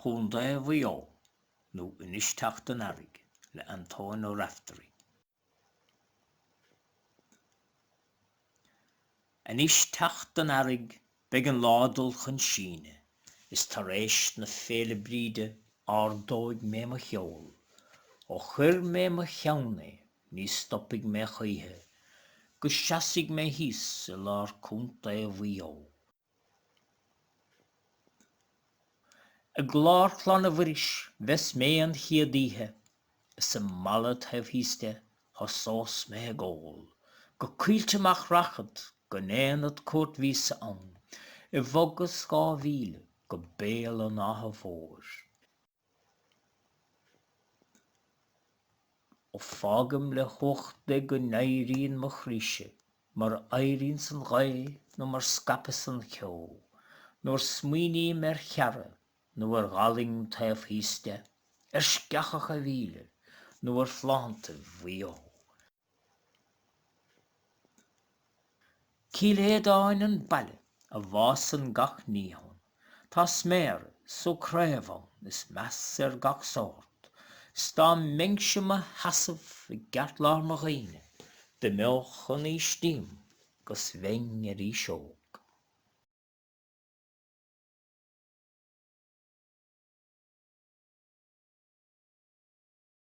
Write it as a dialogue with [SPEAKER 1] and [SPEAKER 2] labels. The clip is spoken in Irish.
[SPEAKER 1] Contae Mhaigh Eo nó Anois Teacht an Earraigh le Antoine Ó Raifteirí. Anois teacht an Earraigh beidh an lá dul chun síneadh is tar éis na Féile Bríde ardóidh mé mo sheol ó chuir mé mo cheann é Ní stopfaidh mé choíche go seasfaidh mé thíos i lár Contae Mhaigh Eo. I gClár Chlainne Mhuiris bheas mé an chéad oíche, is i mBalla taobh thíos de thosós mé ag ól, go Coillte Mach rachad go ndéanfad cuairt mhíosa ann, i bhfogas dhá mhíle go Béal an Átha Mhóir. Fágaim le huachta go n-éiríonn mo chroíse, mar éiríonns an ghaoth nó mar scaipeas an ceo, nuair smaoiním ar Cheara nó ar Ghaileang taobh thíos de, ar Sceachach a' Mhíle nó ar phláinéad Mhaigh Eo. Cill Aodáin an baile a bhfásann gach ní ann. Tá sméara 's sú craobh ann is meas ar gach sórt. 'S dá mbeinnse 'mo sheasamh i gceartlár mo dhaoine, d'imeodh an aois díom 'gus bheinn arís óg.